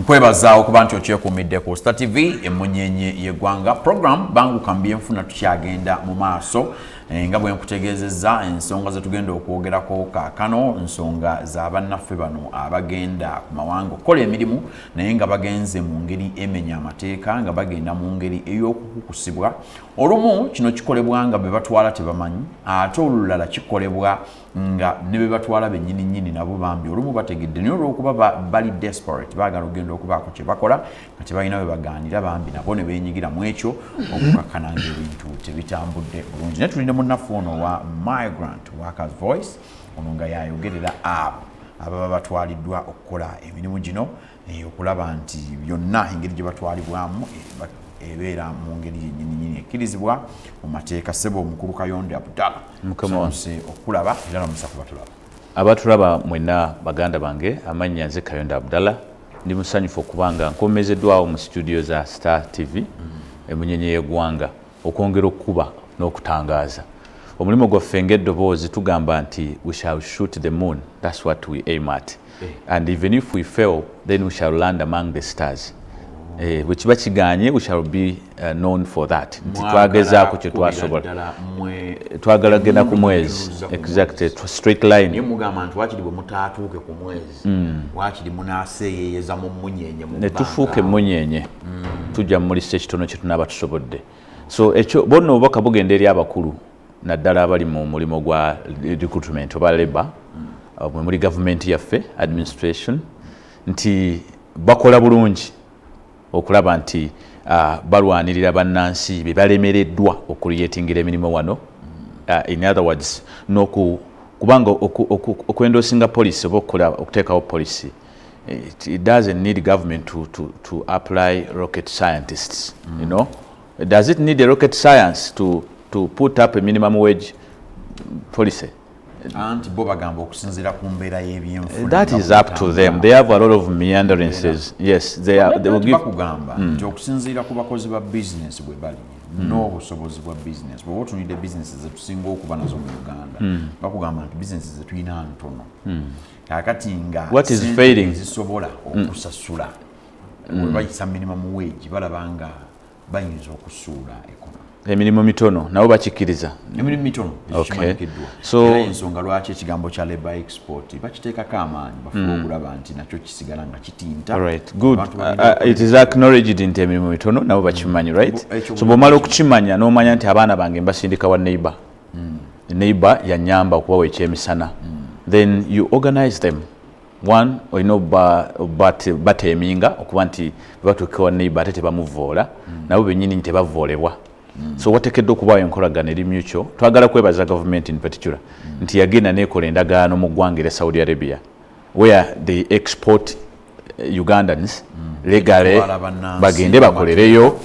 nkwebaza okuba nti okyekuumidde ku star tv emunyenye yegwanga program banguka mu byenfuna tukyagenda mu maaso eh, nga bwe nkutegeezezza ensonga zetugenda okwogerako kaakano nsonga za bannaffe bano abagenda ku mawanga okukola emirimu naye nga bagenze mu ngeri emenya amateeka nga bagenda mu ngeri ey'okukukusibwa olumu kino kikolebwa nga be batwala tebamanyi ate olulala kikolebwa nga ne be batwala bennyini nnyini nabo bambi olumu bategedde naye olw'okuba bali desperate baagala okugenda okubaako kye bakola nga tebalina we bagaanira bambi nabo ne beenyigira mu ekyo okukakkana ng'ebintu tebitambudde bulungi naye tuli ne munnaffe ono owa migrant workers voice ono nga yayogerera abo ababa batwaliddwa okukola emirimu gino eh, okulaba nti byonna engeri gye batwalibwamu eh, ebeera mu ngeri yennyininyini ekkirizibwa mu mateeka ssebo omukulu kayonde abdala sonse okukulaba era namusa kuba tulaba abatulaba mwenna baganda bange amannya nze kayonde abdala ndi musanyufu okuba nga nkomezeddwawo mu situdiyo za star tv mm. emunyonyi y'egwanga okwongera okukuba n'okutangaaza omulimu gwaffe ng'eddoboozi tugamba nti we shall shoot the moon that's what we aim at eh. and even if we fail then we shall land among the stars eh, bwe kiba kiganye we shall be uh, known for that nti twagezaako kye twasobola twagala genda ku mwezi exactly straight line mugamba nti wakiri bwe mutaatuuke ku mwezi galaxy mm. wakiri munaseeyeyeza mu munyenye netufuuka emunyenye mm. tujja mumulisa ekitono kyetunaaba tusobodde so ekyo bonna obubaka bugenda eri abakulu naddala abali mu mulimu gwa recruitment oba labour mm. mwe muli gavumenti yaffe administration nti bakola bulungi okulaba nti uh, balwanirira bannansi be balemereddwa okuliyetingira emirimu wano uh, in other words noku kubanga okwendoosinga policy oba okukola okuteekawo policy it doesn't need government to, to, to apply rocket scientists mm. you know does it need a rocket science to, to put up a minimum wage policy anti bo bagamba okusinzira ku mbeera y'ebyenfuna that is up to them they have a lot of meanderances yes they are they will give kugamba hmm. nti okusinzira ku bakozi ba business bwe bali hmm. n'obusobozi bwa business bwoba otunidde business zetusinga okuba nazo mu uganda hmm. bakugamba nti business zetulina ntono kakati nga zisobola okusasula webayisa minimum wage balaba nga bayinza okusuula ekonomi emirimu mitono nabo bakikkiriza emirimu mitono ekimanyikiddwa era ensonga lwaki ekigambo kya labor export bakiteekako amaanyi bafuba mm. okulaba nti nakyo kisigala nga kitinta uh, uh, nti emirimu mitono nabo bakimanyi right so bwomala okukimanya n'omanya nti abaana bange mbasindika wa neighbor mm. neighbor yanyamba okubawa ekyemisana mm. then you organize them one olina bateminga okuba nti bebatuuka wa neighbor ate tebamuvoola mm. nabo benyini nti tebavoolebwa mm. so watekedde okubaawo enkolagana eri mutual twagala kwebaza gavumenti in particular mm. nti yagenda nekola endagaano mu ggwanga era saudi arabia where they export eh, ugandans legale bagende bakolereyo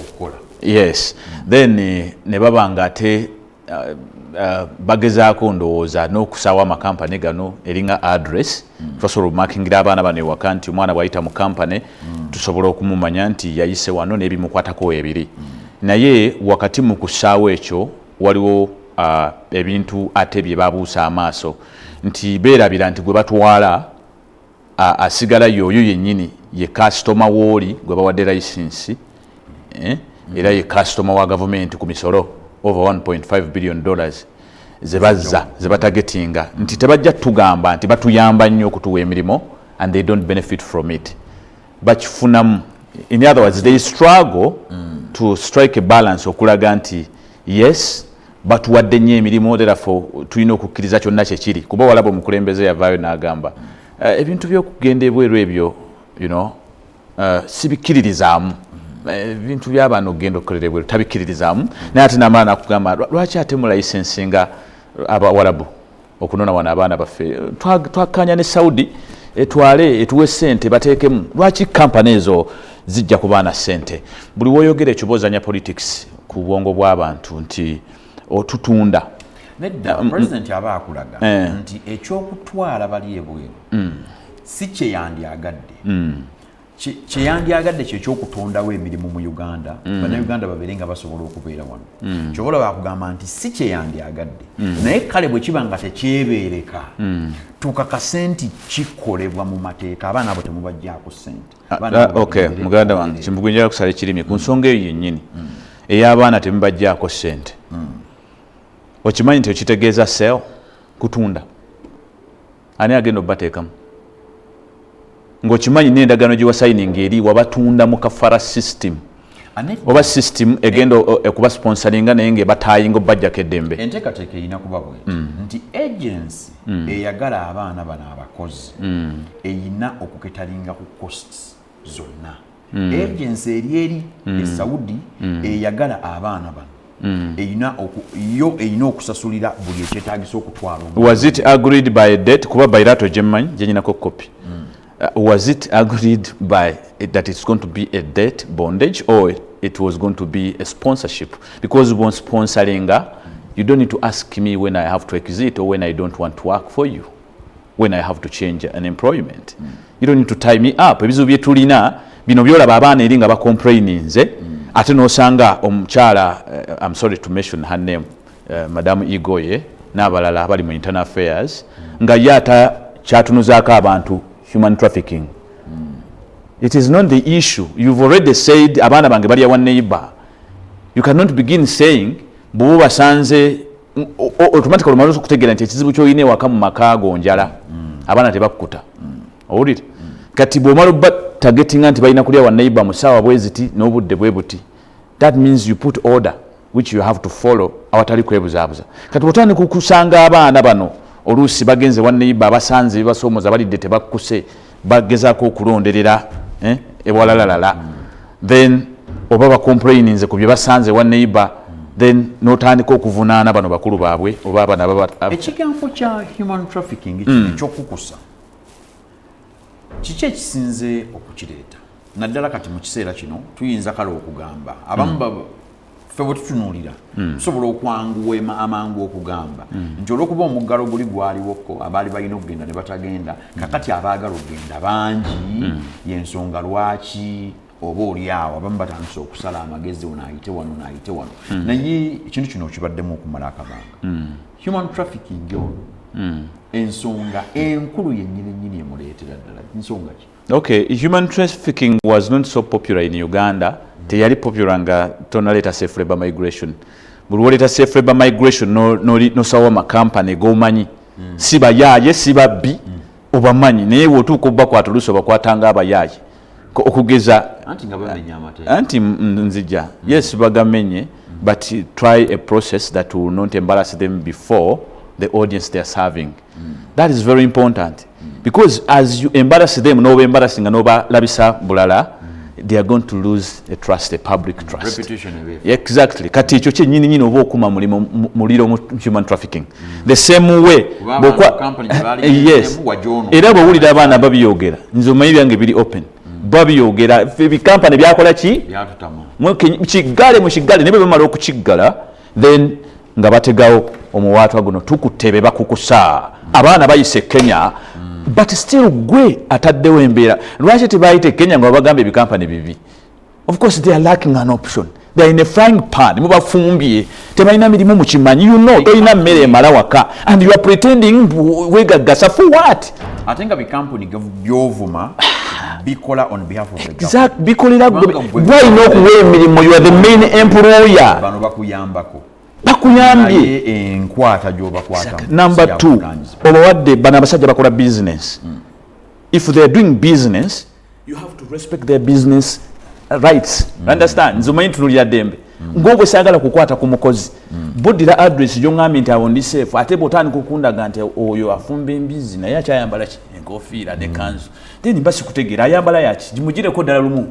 yes then eh, ne baba nga ate Uh, uh, bagezaako ndowooza n'okusaawo amakampani gano eringa address mm. tubasobola obumakingira abaana bano ewaka nti omwana bwayita mu kampani mm. tusobola okumumanya nti yayise wano n'ebimukwatako ebiri mm. naye wakati mu kusaawo ekyo waliwo uh, ebintu ate bye babuusa amaaso nti beerabira nti gwe batwala asigala yoyo yenyini ye kasitoma wooli gwe bawadde layisinsi eh? era ye kasitoma wa gavumenti ku misolo over 1.5 billion dollars zebazza zebatagetinga nti tebajja tugamba nti batuyamba nnyo okutuwa emirimu and they don't benefit from it bakifunamu in other words they struggle mm. to strike a balance okulaga nti yes batuwadde nnyo emirimu therefore tulina okukkiriza kyonna kyekiri kuba walaba omukulembeze yavaayo n'agamba mm. uh, ebintu by'okugenda ebweru ebyo you know, uh, sibikkiririzaamu mm. Eh, ebintu byabaana okugenda okukolera ebweru tabikkiririzaamu naye ate namala nakugamba lwaki ate mulayisensi nga abawalabu okunona wano abaana baffe twakanya ne saudi etwale etuwe sente batekemu lwaki kampani ezo zijja ku baana sente buli woyogera ekyo bozanya politics ku bwongo bw'abantu nti otutunda nedda mm, mm. president aba akulaga eh. nti ekyokutwala bali ebweru mm. si kyeyandyagadde kye yandyagadde kye kyokutondawo emirimu mu uganda mm. bannayuganda babeere nga basobola okubeera wano mm. kyobola wakugamba nti si kye yandyagadde mm. naye kale bwe kiba nga tekyebeereka mm. tukakase nti kikolebwa mu mateeka abaana abo temubajjako sente ah, ah, ok muganda wange kimbugunjaa kusala ekirimi ku nsonga eyo yennyini mm. ey'abaana temubajjako sente mm. okimanyi nti okitegeeza sel kutunda ani agenda obateekamu ngaokimanyi nendagaano gyewasayininga eri wabatunda mu kafara system oba system egenda ekuba sponsoringa naye nga ebatayinga obajjako eddembe enteekateeka erina kuba bwe mm. nti agency mm. eyagala abaana bano abakozi mm. erina okuketalinga ku costs zonna mm. agency eri eri mm. esaudi mm. eyagala abaana bano mm. erina yo erina okusasulira buli ekyetagisa okutwala was it agreed by date kuba bairato gyemmanyi gyenyinako kopi mm. uh, was it agreed by that it's going to be a date bondage or it was going to be a sponsorship because bon sponsoringa you don't need to ask me when i have to exit or when i don't want to work for you when I have to change an employment mm. you don't need to tie me up ebizibu bye tulina bino byolaba abaana eri nga ba complaininze mm. ate nosanga omukyala uh, I'm sorry to mention her name uh, madam Igoye n'abalala abali mu internal affairs mm. nga ye ata kyatunuzaako abantu human trafficking mm. it is not the issue you've already said abaana bange balya wa neighbor you cannot begin saying bwoba basanze automatically omaze okutegeera nti ekizibu kyolina ewaka mu maka ago njala mm. abaana tebakkuta mm. owulire mm. kati bwomala oba targetinga nti balina kulya wanaiba mu saawa bweziti n'obudde bwe buti that means you put order which you have to follow awatali kwebuzaabuza kati bwotandika okusanga abaana bano oluusi bagenze wanaiba abasanze bibasoomoza balidde tebakkuse bagezako okulonderera eh, ewalalalala mm. then oba bacomplaininze ku bye basanze wa neighbor then notandika okuvunaana bano bakulu baabwe oba abana ekigambo kya human trafficking mm. ekyokukusa kiki ekisinze okukireeta naddala kati mu kiseera kino tuyinza kale okugamba abamu mm. ffe bwe tutunuulira hmm. tusobola okwanguwa amangu okugamba hmm. nti olwokuba omuggalo guli gwaliwoko abaali balina okugenda ne batagenda hmm. kakati abaagala okugenda bangi yensonga lwaki oba olyawo abamu batandise okusala amagezi ono ayite wano naayite wano naye ekintu kino kibaddemu okumala akabanga human trafficking ono ensonga enkulu yennyini nnyini emuleetera ddala nsonga ki Okay, human trafficking was not so popular in Uganda. Teyali popular nga tonaleta safe labor migration. Buli woleta safe labor migration no no no sawa ma company go manyi. Mm. Siba yaye siba bi mm. obamanyi naye wotu ko bakwa tuluso bakwa tanga abayaye. Ko okugeza anti nga bamenye amate. Anti nzija. Mm. Yes bagamenye mm. but try a process that will not embarrass them before the audience they are serving. Mm. that is very important because as you embarrass them noba embarrassing nga nobalabisa bulala they are going to lose a trust a public trust exactly kati ekyo kyenyini nyini oba okuma mulimu muliro mu human trafficking mm. the same way yes era bwewulira abaana babiyogera nze omanyi byange biri open mm. babiyogera ebikampani byakola ki kigale mu kigale naye bwebamala okukiggala then nga bategawo omuwaatwa guno tukutte be bakukusa abaana bayise kenya but still gwe ataddewo embeera lwaki tebayite kenya nga babagamba ebikampani bibi of course they are lacking an option they're in a frying pan mubafumbye tebalina mirimu mukimanyi you know tolina mmere emala waka and you are pretending wegaggasa for what ate nga bikampuni byovuma bikola on behalf of the government bikolera gwe gwalina okuwa emirimu you are the main employer bano bakuyambako bakuyambye enkwata gyobakwata number 2 obawadde bano abasajja bakola business mm. if they are doing business you have to respect their business uh, rights mm. understand nze omanyi tunulira dembe mm. ngobwe sagala kukwata ku mukozi mm. buddira address gyongambye nti awo ndi safe ate bwotandika okundaga nti oyo afumba embizi naye akyayambala ki enkofiira ne mm. kanzu then mba sikutegeera ayambala yaki gimugireko ddala lumu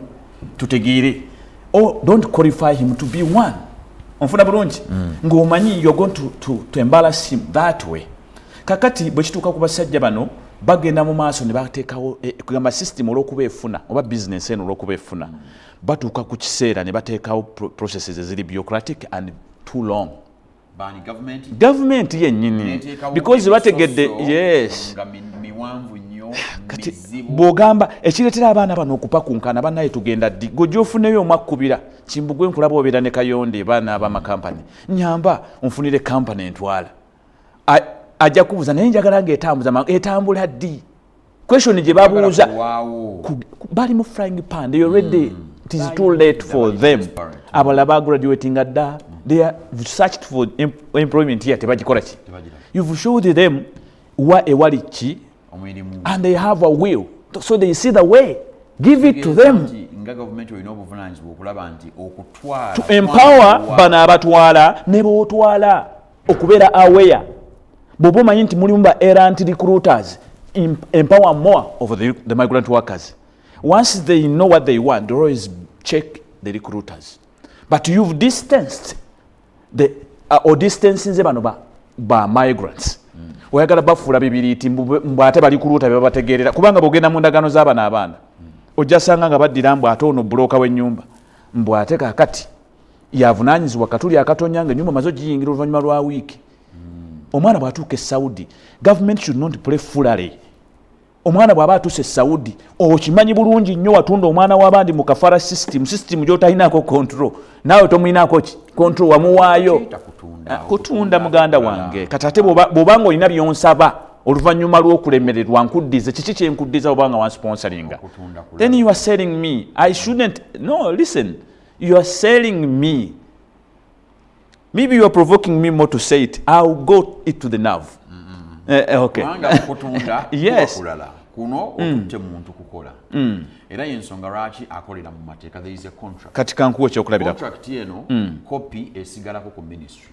tutegeere o oh, don't qualify him to be one onfuna bulungi mm. ng'omanyi you're going to, to, to embarrass him that way kakati bwe kituuka ku basajja bano bagenda mu maaso ne bateekawo eh, kugamba system olw'okuba efuna oba bizinensi eno olw'okuba efuna batuuka ku kiseera ne bateekawo processes eziri bureaucratic and too long gavumenti yennyini because bategedde yes kati bw'ogamba ekireetera abaana bano okupakunkana banaye tugenda ddi gwe gyofuneyo omwakkubira kimbugwe nkulaba obeera ne kayonde baana abamakampani nyamba onfunire kampani entwala ajja kubuuza naye njagala nga etambuza mangu etambula ddi question gye babuuza bali mu frying pan they already mm. it is too late for them abala ba graduating dda they are searched for employment here tebagikola ki you've showed them wa ewali ki and they have a will so they see the way give it to them nga gavumenti olina obuvunanyizibwa okulaba nti okutwala to empower bano abatwala ne botwala okubeera aware bwoba omanyi nti mulimu ba erant recruiters empower more of the, the migrant workers once they know what they want they always check the recruiters but you've distanced the uh, or distancinze bano ba, ba migrants mm. oyagala bafuula bibiriiti mbu ate bali kuluuta byebabategeerera kubanga bwogenda mu ndagaano z'abana abaana mm. ojjasanga nga baddira mbu ate ono buloka w'ennyumba mbu ate kakati yavunanyizibwa katuli akatonya nga enyumba maze ogiyingira oluvanyuma lwa wiiki hmm. omwana bwatuuka esaudi government should not play fulary omwana bwaba atuuse esaudi okimanyi bulungi nnyo watunda omwana wabandi mu kafara system system gyotalinako control naawe tomulinako ki control wamuwaayo ah, kutunda muganda wange kati ate bwoba nga olina byonsaba oluvannyuma lwokulemererwa nkuddize kiki kyenkuddiza obanga wansponsoringa then you are selling me i shouldn't no listen you are selling me maybe you are provoking me more to say it i'll go it to the nerve mm -hmm. eh, eh okay yes kuno mm. otutte muntu kukola mm. era yensonga lwaki akolera mu mateeka there is a contract kati kankuwa ekyokulabira contract eno mm. copy esigalako ku ministry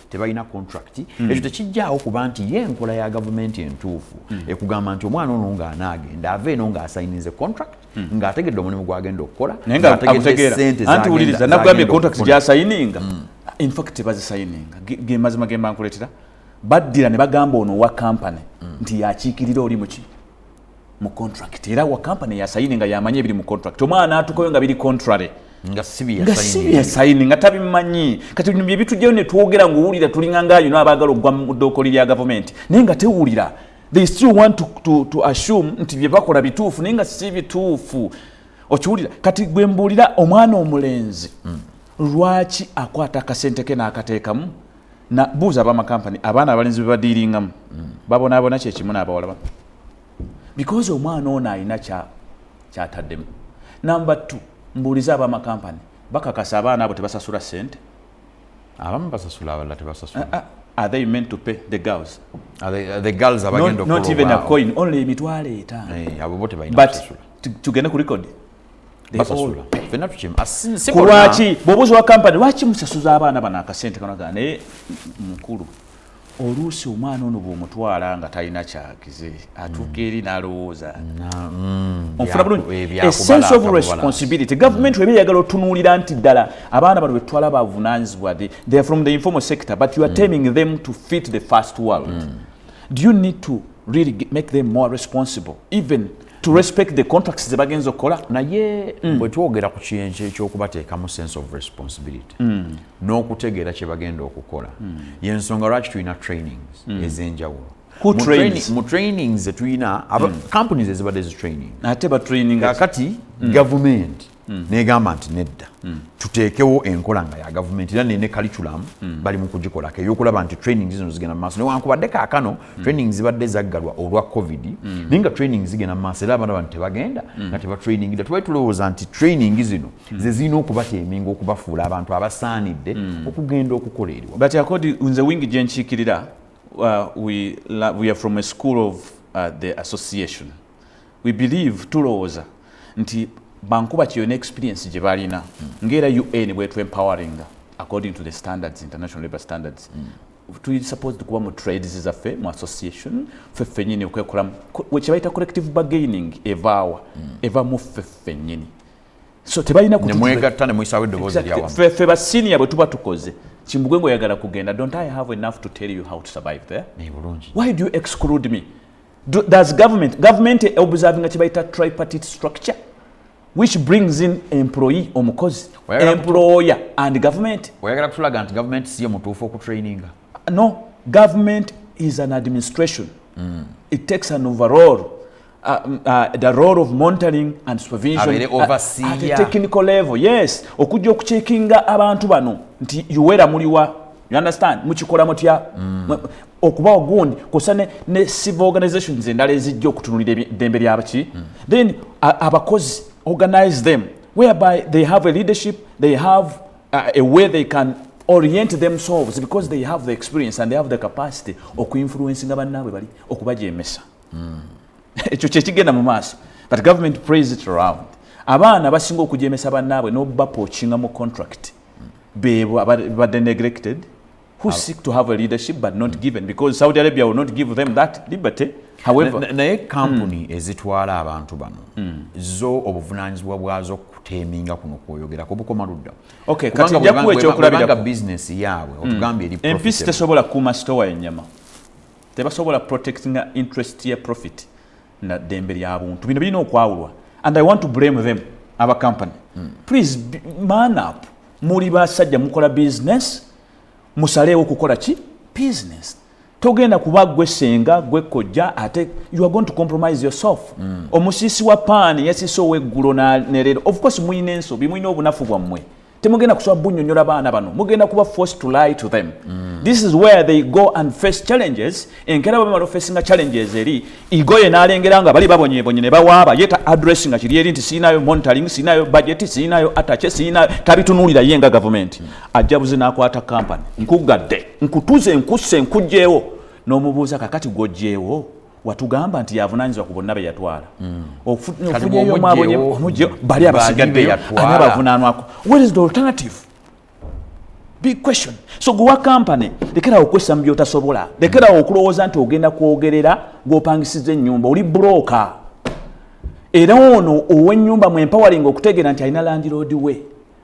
tebalina contract mm. ekyo tekijjaawo kuba nti ye enkola ya gavumenti entuufu mm. ekugamba nti omwana ono ng'anaagenda ava eno ng'asayinize contract mm. ng'ategedde omulimu gwagenda okukola nayeategeeantiwuliriza nagambye contract gyasayininga mm. infact tebazisayininga gemazima gemba nkuletera baddira ne bagamba ono wa kampany mm. nti yakiikirira oli muki mu contract era wa company ya sayini nga yamanyi ebiri mu contract omwana atukoyo nga biri contrary nga sibi ya sayini nga tabimanyi kati bino byebitujjayo ne twogera ng'owulira tulinga ngaayino abaagala okugwa mu ddookoli lya gavumenti naye nga tewulira they still want to, to, to assume nti bye bakola bituufu naye nga si bituufu okiwulira kati gwe mbuulira omwana omulenzi hmm. lwaki akwata akasente ke n'akateekamu na buuza abamakampani abaana abalenzi bebadiiringamu mm. babonaabona kyekimu naabawala ba because omwana ono alina kyataddemu namba t mbuuliza abamakampani bakakasa abaana abo tebasasula sente abamu basasula abalala tebasasula ah, ah, are they meant to pay the girls are they, are the girls abagenda not, not even a coin only emitwalo etaano eh, abo bo tebalina kusasula tugende ku record kulwaki bwobuzi wa kampani lwaki musasuza abaana bano akasente kanaga naye mukulu oluusi omwana ono bwomutwala nga talina kyakize atuuka eri nalowooza mm, ofuna bulungi esense of responsibility gavumenti weba eyagala otunuulira nti ddala abaana bano betutwala bavunanyizibwa they are from the informal sector but you are mm. taming them to fit the first world mm. do you need to really make them more responsible even to respect the contracts ze bagenza okukola naye mm. bwe twogera ku kiyenje ekyokubateekamu sense of responsibility mm. n'okutegeera kye bagenda okukola mm. yensonga lwaki tulina trainings mm. ez'enjawulo mu trainings zetulina mm. kampuni zezibadde zitraining ate batraining kakati mm. gavumenti mm. negamba nti nedda mm. tuteekewo enkola nga ya gavumenti era nene kaliculamu mm. bali mu kugikolako eyokulaba nti training zino zigenda mu maaso newankubadde kaakano mm. training zibadde zaggalwa olwa covid mm. naye nga training zigenda mu maaso era abaana bantu tebagenda mm. nga tebatrainingida tubali tulowooza nti training zino mm. ze zirina okubateeminga okubafuula abantu abasaanidde mm. okugenda okukola eriwa but akodi nze wingi gye nkiikirira uh, we, we are from a school of uh, the association we believe tulowooza nti bankuba kyeyo ne experience gye balina mm. ngaera un bwetu empowering according to the standards international labor standards mm. tuli supposed kuba mu trades zaffe mu association ffe ffenyini okwekolamu kyebayita collective bargaining evaawa mm. eva mu ffe ffenyini so tebalina nemwegatta nemuyisawo eddoboozi lyawamu ffe ba senior bwe tuba tukoze kimbugwe ngaoyagala kugenda don't i have enough to tell you how to survive there why do you exclude me does government government observing kibayita tripartite structure which brings in employee omukozi employer and government oyagala kutulaga nti government siyo mutuufu okutraininga no government is an administration mm. it takes an overall uh, mm, uh, the role of monitoring and supervision at, at a technical level yes okujja okucekinga abantu bano nti uwera muliwa you understand mukikola mutya mm. okubawo gundi kosa ne, ne civil organizations endala ezijja okutunulira eddembe lyabaki mm. then abakozi organize them whereby they have a leadership they have uh, a way they can orient themselves because they have the experience and they have the capacity okuinfluencinga bannaabwe bali okubajemesa mm. ekyo kyekigenda mu maaso but government praise it around abaana basinga okujemesa bannaabwe nobapokinga mu contract bebo abadde neglected who seek to have a leadership but not given because Saudi Arabia will not give them that liberty however naye kampuni hmm. ezitwala abantu bano hmm. zo obuvunaanyizibwa bwazo kuteminga kuno kwoyogera kubukoma ludda okay kati njakuwa ekyokulabirako business yaabwe hmm. otugambye eri empisi tesobola kuuma sitowa yenyama tebasobola protectinga interest ya profit na dembe lya buntu bino bilina okwawulwa and i want to blame them aba company mm. please man up muli basajja mukola business musaleewo kukola ki business togenda kuba gwe senga gwe kojja ate you are going to compromise yourself mm. omusisi wa paani yasise oweggulo nerero of course muyina ensobi muyina obunafu bwammwe temugenda kusobola bunyonyola baana bano mugenda kuba forced to lie to them mm. this is where they go and face challenges enkera bamala ofesinga challenges eri igoye nalengera nga bali babonyebonye ne bawaaba ye ta address nga kiri eri nti siinayo monitoring siinayo budget siinayo atache siinayo tabitunulira ye nga government mm. ajabuze nakwata company nkugadde nkutuze nkusse nkujjeewo n'omubuuza kakati gwojjeewo watugamba nti yavunanyizibwa ku bonna be yatwala hmm. ofunyeyo mwabonye bali abasigaddeyo ani abavunanwako where is the alternative big question so guwa company lekerawo okwessa mu byotasobola lekerawo okulowooza nti ogenda kwogerera gwopangisiza ennyumba oli broka era ono ow'ennyumba mwempowering okutegeera nti alina landiroodi we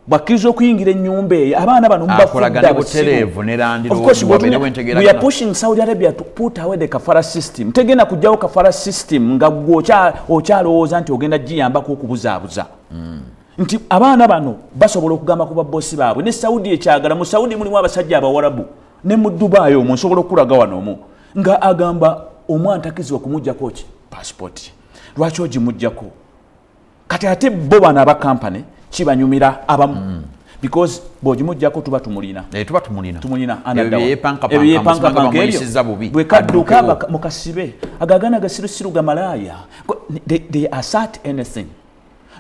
bwakkiriza okuyingira enyumba eyo abaana bano mubafuddabsibutegenda kujjawo kafara system nga gwe okyalowooza nti ogenda giyambako okubuzaabuza hmm. nti abaana bano basobola okugamba ku babosi baabwe ne saudi ekyagala mu saudi mulimu abasajja abawarabu ne mu dubai omu nsobola okukulaga wano omu nga agamba omwana takizibwa kumujjako ki pasipoti lwaki ogimujjako kati ate bo bano aba kampany kibanyumira abamu mm. because bwogimujjako tuba tumulina eh, tuba tumulina tumulina ebyepankapankaebyoyisiza bubi bwekadduka mukasibe agagana gasirusiru gamalaaya they, they assert anything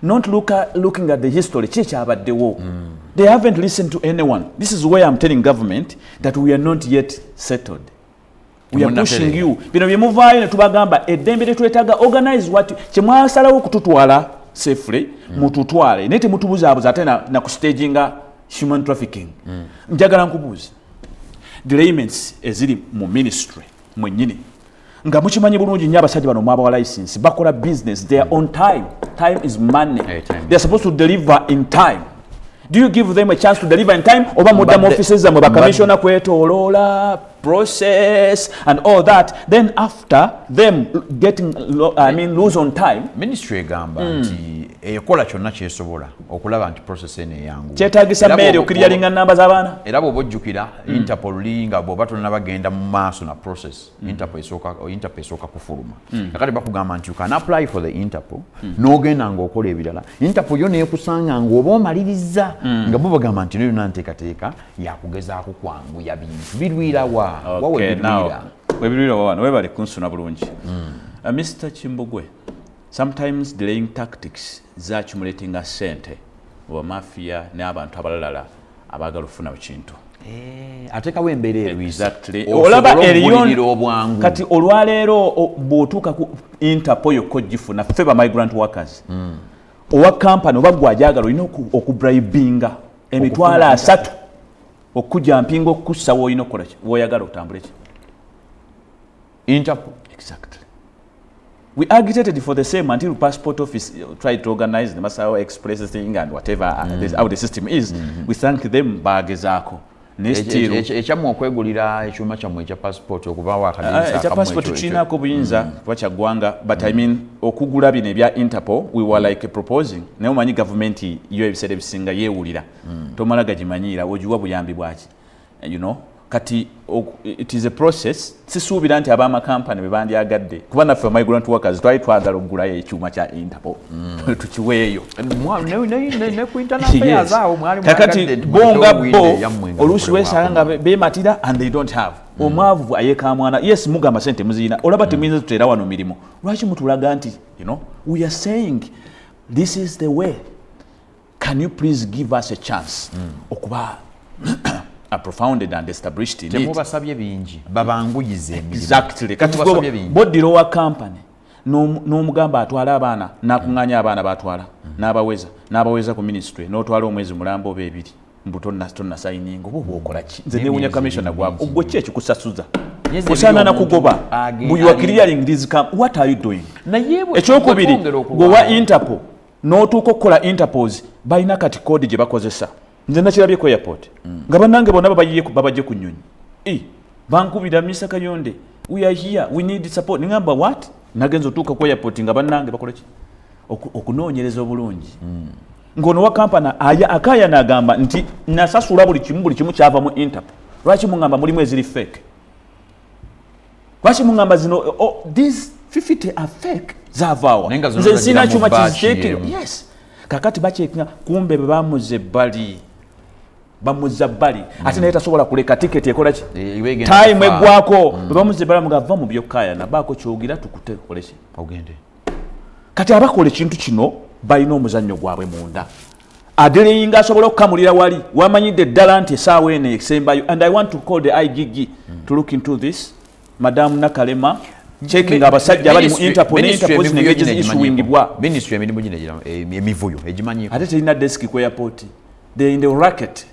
not look at, looking at the history ki ekyabaddewo mm. they haven't listened to anyone this is where i'm telling government that we are not yet settled we are pushing you bino bye muvaayo ne tubagamba eddembe lye twetaaga organize what kye mwasalawo okututwala safely mm. mututwale naye temutubuzaabuza ate na, na ku stage nga human trafficking mm. njagala nkubuuza delayments eziri mu ministry mwennyini nga mukimanyi bulungi nyo abasajja bano mwabawa license bakola business their own time time is money hey, time. they're supposed to deliver in time do you give them a chance to deliver in time oba mudda mu offices zamwe bakamisiona kwetoloola process and all that then after them getting lo, I mean lose on time ministry egamba mm. nti ekola kyonna kyesobola okulaba nti process eno eyangu kyetagisa meeri okirya linga namba z'abaana era bw'oba ojjukira mm. interpol linga bw'oba tonna bagenda mu maaso na process mm. interpol esooka interpol esooka kufuluma mm. kakati bakugamba nti you can apply for the interpol mm. n'ogenda ng'okola ebirala interpol yo neekusanga ng'oba omalirizza mm. nga bo bagamba nti no yonna nteekateeka yakugezaako kwanguya bintu birwira wa webirwira wawana webale kunsuna bulungi hmm. uh, mr kimbugwe sometimes delaying tactics zakimulatinga sente oba mafia n'abantu abalalala abaagala okufuna kintu eh, atekawo embeera erwiolaba kati olwaleero bwotuuka ku interpo yokka ogifuna ffe ba migrant workers hmm. owa kampani oba gwe ajagala olina okubribinga emitwalo asatu okuja mpinga okukussa woolina okukola ki woyagala otambule ki interpol exactly we agitated for the same until passport office uh, tried to organize the masawa express thing and whatever uh, mm. this, how the system is mm -hmm. we thank them bagezaako ekyamu okwegulira ekyuma kyammwe ekya passport okuva wakadekya ah, passport tulinako obuyinza mm. kuba kyaggwanga but i mm. mean okugula bino ebya interpol we were like proposing naye omanyi gavumenti yo ebiseera ebisinga yeewulira mm. tomala gagimanyiira ogiwa buyambi bwaki eh, you know kati it is a process sisuubira nti abamakampani be bandyagadde kuba naffe migrant workers twali twagala okugulayo ekyuma kya interpol mm. tukiweeyo kakati bonga bo oluusi wesanga nga bematira and they don't have mm. omwavu ayekamwana yes mugamba sente muziyina olaba mm. temuyinza tuteera wano mirimu mm. lwaki mutulaga nti you know, we are saying this is the way can you please give us a chance mm. okuba profounded and established in temubasabye bingi babanguyize exactly kati boddira owa company n'omugamba atwale abaana nakuŋŋanya abaana batwala n'abaweza n'abaweza ku ministry n'otwala omwezi mulamba oba ebiri mbu tonna tonna sayininga oba obwokola ki nze newunya commissioner gwabo ogwo ki ekikusasuza osaana nakugoba mbu you are clearing this camp what are you doing ekyokubiri gwewa interpol n'otuuka okukola interpols balina kati kodi gye bakozesa nze nakirabye ku airport mm. nga banange bonna babajje ku nyonyi e, bankubira misa kayonde we are here we need support ningamba wat nagenza otuuka ku airport nga banange bakoleki okunoonyereza obulungi mm. ngono wa kampani aya akaya nagamba nti nasasula buli kimu buli kimu kyava mu interpol lwaki mungamba mulimu eziri fake lwaki mungamba zino oh, oh these 50 are fake zavaawa nze nsina kyuma kiziteekero yes kakati bakyekinga kumbe bebamuze bali bamuza bali mm. ate naye tasobola kuleka tiketi ekola ki e, time egwako mm. bebamuze bali mugava mu byokayana baako kyogira tukute olese ogende okay. kati abakola ekintu kino balina omuzannyo gwabwe munda adeleyinga asobola okukamulira wali wamanyidde eddala nti esaawa eno esembayo and i want to call the igg mm. to look into this madamu nakalema checking abasajja abali mu interpol ne interpol ne ngeje zishuwingibwa ministry emirimu gino emivuyo egimanyi ate telina desk ku airport they in the racket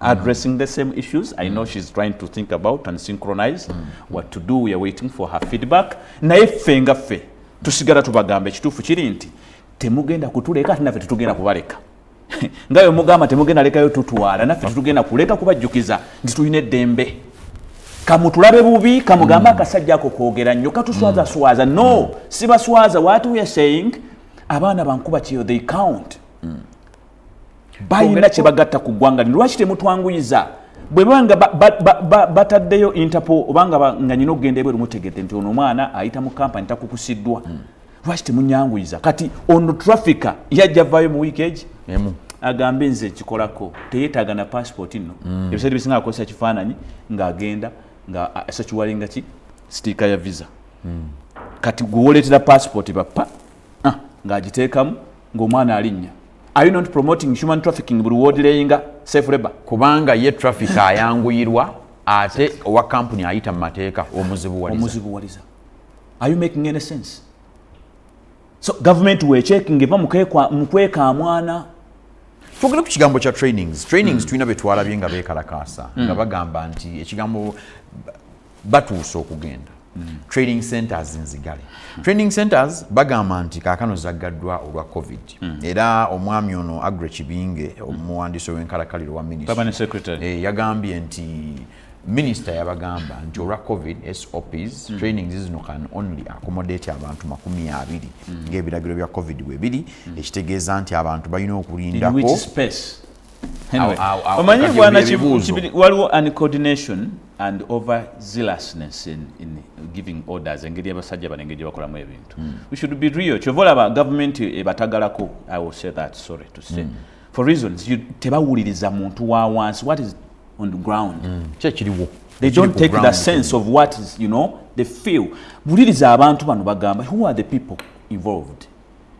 addressing the same issues i know she's trying to think about and synchronize mm. what to do weare waiting for her feedback naye ffe nga ffe tusigala tubagamba ekituufu kiri nti temugenda kutuleka ati naffe tetugenda kubaleka nga yo mugamba temugenda lekayo tutwala naffe tetugenda kuleka kubajjukiza nti tulina eddembe kamutulabe bubi kamugambe mm. akasajja ako kwogera nnyo katuswazaswaza mm. no mm. sibaswaza what weare saying abaana bankuba kyeyo they count mm. balina kyebagatta ku ggwanga lino lwaki temutwanguyiza bwe banga bataddeyo interpol obanga nga nyina okugenda ebweru mutegedde nti ono omwana ayita mu kampani takukusiddwa hmm. lwaki temunyanguyiza kati ono traffica yajja vaayo mu wiiki egi agambe nze kikolako teyetaaga na passport nno hmm. ebiseera bisinga akozesa kifaananyi ng'agenda nga asakiwalinga ki sitiika ya visa hmm. kati gwewoleetera passport bappa ah, ng'agiteekamu ng'omwana alinnya are you not promoting human trafficking buli woodileyinga safe labor kubanga ye traffic ayanguyirwa ate owa kampuni ayita mu mateeka omuzibuwaliza are you making any sense so gavumenti wechekinga eva mukweka mwana twogere ku kigambo kya trainings trainings mm. tulina betwalabye nga bekalakaasa mm. nga bagamba nti ekigambo batuuse okugenda trading centers nzigale trading centers bagamba nti kaakano zaggaddwa olwa covid hmm. era omwami ono agre kibinge omuwandiisi ow'enkalakaliro wa minisita eh, yagambye nti minisita yabagamba nti olwa covid sops hmm. training zizino can only accommodate abantu makumi abiri hmm. ng'ebiragiro bya covid bwe biri ekitegeeza nti abantu balina okulindako omanyi bwana waliwo uncoordination and over zealousness in, in giving orders engeri yabasajja bano engeri gyebakolamu ebintu mm. we should be real kyova olaba gavumenti ebatagalako i will say that sorry to say mm. for reasons you tebawuliriza muntu wa wansi what is on the ground mm. kyekiriwo they don't take the sense of what is you know they feel wuliriza abantu bano bagamba who are the people involved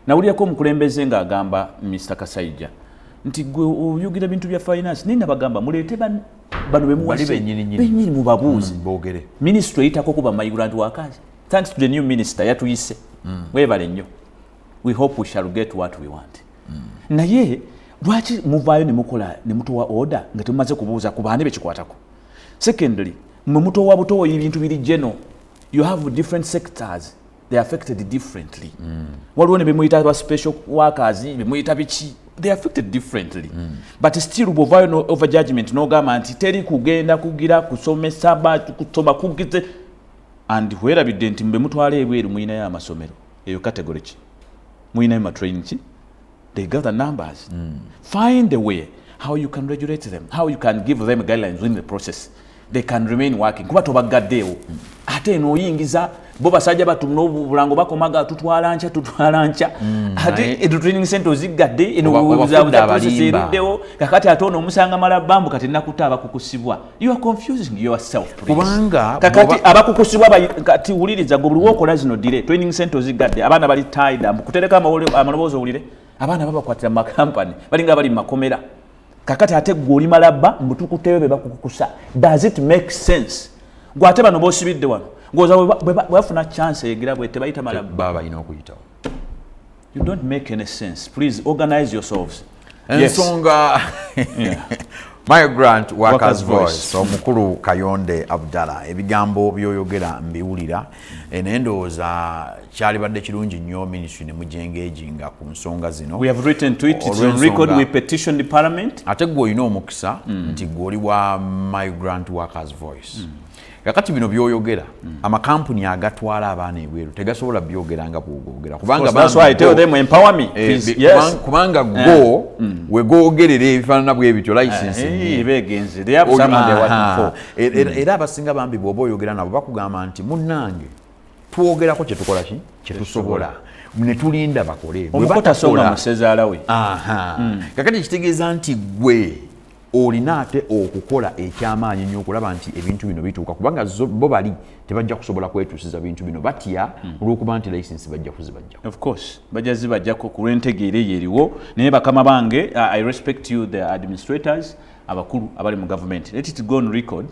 nawulirako omukulembeze ng'agamba mr kasaija nti gwe oyogera bintu bya finance naye nabagamba muleete bano bemuwali benyini mubabuuzi mm, bogere minisitule eyitako kuba maigurant wakazi thanks to the new minister yatuyise mm. webale nnyo we hope we shall get what we want mm. naye lwaki muvaayo nemukola nemutowa order nga temumaze kubuuza ku baani bekikwatako secondly mwe mutowa butowa ebintu biri geno you have different sectors they affected differently mm. waliwo ne bemuyita ba special workers bemuyita biki they affected differently mm. but still bwovayo no over judgment nogamba nti teri kugenda kugira kusomesa kusoma kugize and hwerabidde nti mbemutwala ebweru muyinayo amasomero eyo category ki muyinayo matrain ki they gather numbers mm. find a way how you can regulate them how you can give them guidelines within the process they can remain working kuba tobaggaddeewo mm. ate eno oyingiza bo basajja batu nobulango bakomaga tutwala nkya tutwala nkya mm, ate edu training center oziggadde eno kakati ate ono omusanga mala bambu kati nakuta abakukusibwa kubanga kakati abakukusibwa kati wuliriza gwe buli wokola zino dire training center ozigadde abaana bali tida mbukutereka amaloboozi owulire abaana babakwatira mu makampani balinga bali mu makomera kakati ate gwe oli malabba mbutukuteyo be bakukukusa does it make sense gwe ate bano bosibidde wano ngoza bwebafuna chance egira bwe tebayita malabba baba ina okuyitawo You don't make any sense. Please organize yourselves. Ensonga yes. Migrant Workers, Workers Voice omukulu Kayonde Abdala ebigambo byoyogera mbiwulira eh, naye ndowooza kyalibadde kirungi nnyo ministry ne mujengeegi nga ku nsonga zino ate gwe olina omukisa mm. nti gwe oli wa Migrant Workers Voice mm. kakati bino byoyogera mm. amakampuni agatwala abaana ebweru tegasobola byogera nga bwogogera kubangakubanga eh, go eh. mm. wegogerera ebifaanana bwebityo lisensiera abasinga bambi bwoba oyogera nabo bakugamba nti munange twogerako kyetukola ki kyetusobola netulinda bakole omukotasonga musezaalawe mm. kakati kitegeeza nti gwe olina ate okukola ekyamaanyi nyo okulaba nti ebintu bino bituuka kubanga bo bali tebajja kusobola kwetuusiza bintu bino batya hmm. olwokuba nti license bajja kuzibajjako of course bajja zibajjako ku lwentegeera eyo eriwo naye bakama bange uh, i respect you the administrators abakulu abali mu gavumenti let it go on record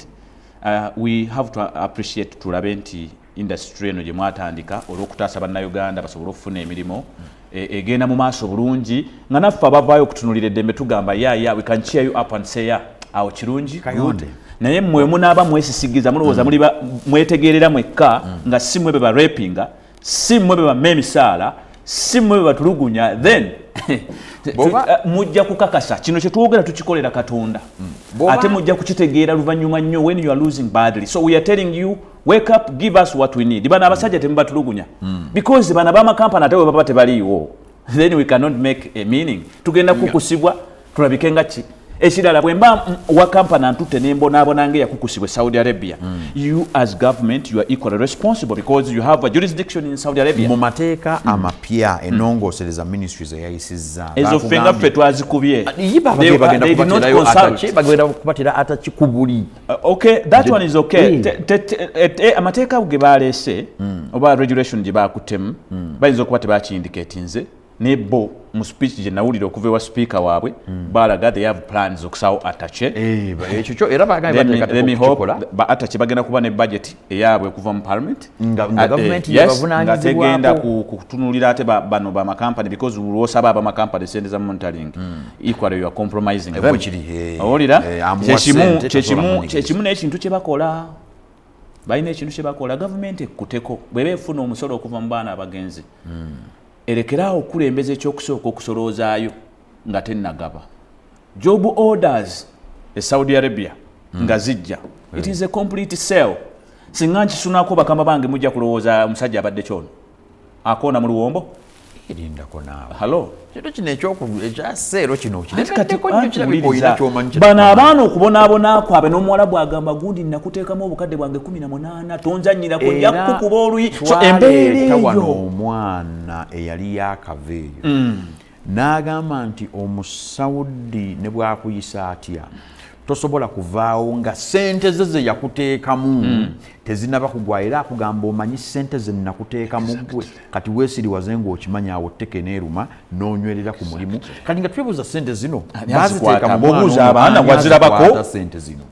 uh, we have to appreciate tulabe nti indasitule eno gye mwatandika olw'okutaasa bannayuganda basobole okufuna emirimu e, egenda mu maaso bulungi nga naffe abavaayo okutunulira eddembe tugamba yaya we can cheer you up and say ya awo kirungi naye mwe munaaba mwesisigiza mulowooza mm. mwetegeerera mwekka mm. nga si mwe be barepinga si mwe be bama emisaala si mwe be batulugunya then eh, mujja kukakasa kino kyetwogera tukikolera katonda mm. ate mujja kukitegeera luvannyuma nnyo when you are losing badly so we are telling you wake up give us what we need bana abasajja temubatulugunya mm. because bana ba makampani ate webaba tebaliiwo then we cannot make a meaning tugenda kukusibwa tulabike nga ki ekirala bwe mba wa kampana ntutte nembonaabona nga eyakukusibwa saudi arabia mm. you as government you are equally responsible because you have a jurisdiction in saudi arabia mu mateeka mm. amapya hmm. enongosereza mm. ministry zeyayisizza ezo ffe nga ffe twazikubye bagenda kubatira ataki kubuli Uh, okay that one is okay mm. eh, eh, amateeka ago ge baleese mm. oba regulation gye baakutemu mm. bayinza okuba tebakiyindiketinze ne bo mu speech gye nawulira okuva ewa sipiika waabwe balaga they have plans okusawo atache eh, atache bagenda kuba ne budget eyaabwe okuva mu parliament nga eh, gavumenti yebavunanyizibwategenda kutunulira ate bano bamakampani because lwosaba abamakampani sente za monitoring hmm. equally you are compromising eh, owulira eh, kyekimu kyekimu nekintu kyebakola balina ekintu kyebakola gavumenti ekkuteko bweba efuna omusolo okuva mu baana abagenzi hmm. erekeraawo okukulembeza ekyokusooka okusoloozayo nga tenagaba job orders e saudi arabia mm. nga zijja mm. it is a complete sell singa nkisunako bakama bange mujja kulowooza omusajja abadde kyono akoona mu luwombo bano abaana okubonaabona kwabe n'omuwala bwagamba gundi nakuteekamu obukadde bwange kumi na munaana tonzanyirako njakukuba oluyi so embeera eyo omwana eyali yakava eyo mm. N'agamba nti Omusaudi ne bw'akuyisa atya tosobola kuvaawo nga sente ze ze yakuteekamu hmm. tezinaba kugwa era akugamba omanyi sente ze nakuteekamu gwe kati weesiriwaze ng'okimanyi awo tteka eneeruma n'onywerera ku mulimu kati nga twebuuza sente zino baziteeka mu mwana omu ani azikwaata sente zino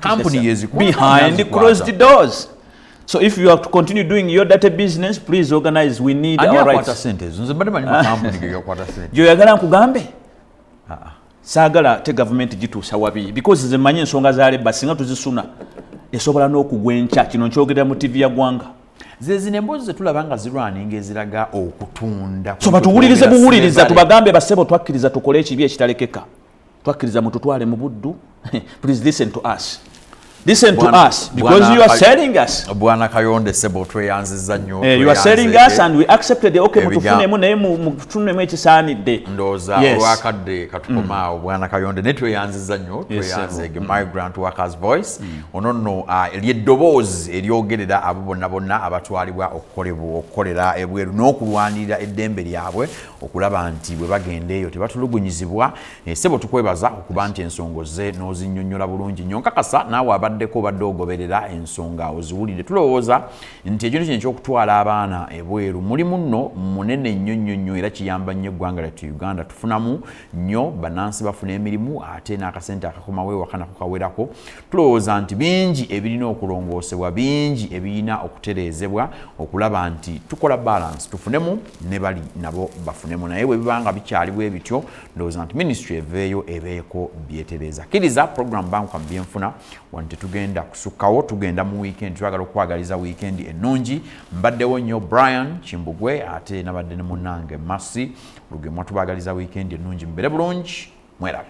company yezikuwa behind closed doors so if you have to continue doing your dirty business please organize we need Ani our rights sente ezo nze mbadde manyi makampuni ge gakwata sente gyoyagala nkugambe ah, ah. saagala te gavumenti gituusa wabi because nze manyi ensonga za leba singa tuzisuna esobola n'okugwa enkya kino nkyogerera mu tivi ya gwanga zezino emboozi zetulaba nga zirwaninga eziraga okutunda so batuwulirize buwuliriza tubagambe basebo twakkiriza tukole ekibi ekitalekeka twakkiriza mututwale mu buddu please listen to us listen to Bwana, us because Bwana, you are selling us bwana kayonde sebo tweyanziza nyo eh, you are selling us and we accepted the okay mutufunemu naye mutufunemu ekisaanidde ndoza yes. wakadde katukomaawo mm. bwana kayonde naye tweyanziza nyo tweyanzege yes, mm. migrant workers voice mm. ono nno uh, ah, lyeddoboozi eryogerera abo bonna bonna abatwalibwa okukolebwa okukolera ebweru n'okulwanirira eddembe lyabwe okulaba nti bwe bagenda eyo tebatulugunyizibwa eh, sebo tukwebaza okuba nti ensonga ozze n'ozinnyonnyola bulungi nnyo nkakasa naawe abaddeko obadde ogoberera ensonga oziwulidde tulowooza nti ekintu kino ekyokutwala abaana ebweru mulimu nno munene nnyo nnyo nnyo era kiyamba nnyo eggwanga lyattu uganda tufunamu nnyo bannansi bafuna emirimu ate n'akasente akakomawo ewaka nako kawerako tulowooza nti bingi ebirina okulongoosebwa bingi ebirina okutereezebwa okulaba nti tukola balance tufunemu ne bali nabo bafunemu naye bwe biba nga bikyali bwe bityo ndowooza nti minisitry eveeyo ebeeko byetereeza kkiriza programu bankuka mu byenfuna wano tetugenda kusukkawo tugenda mu wiikendi twagala okukwagaliza wiikendi ennungi mbaddewo nnyo brian kimbugwe ate nabadde ne munange masi lugemwa tubagaliza wiikendi ennungi mubere bulungi mwerabe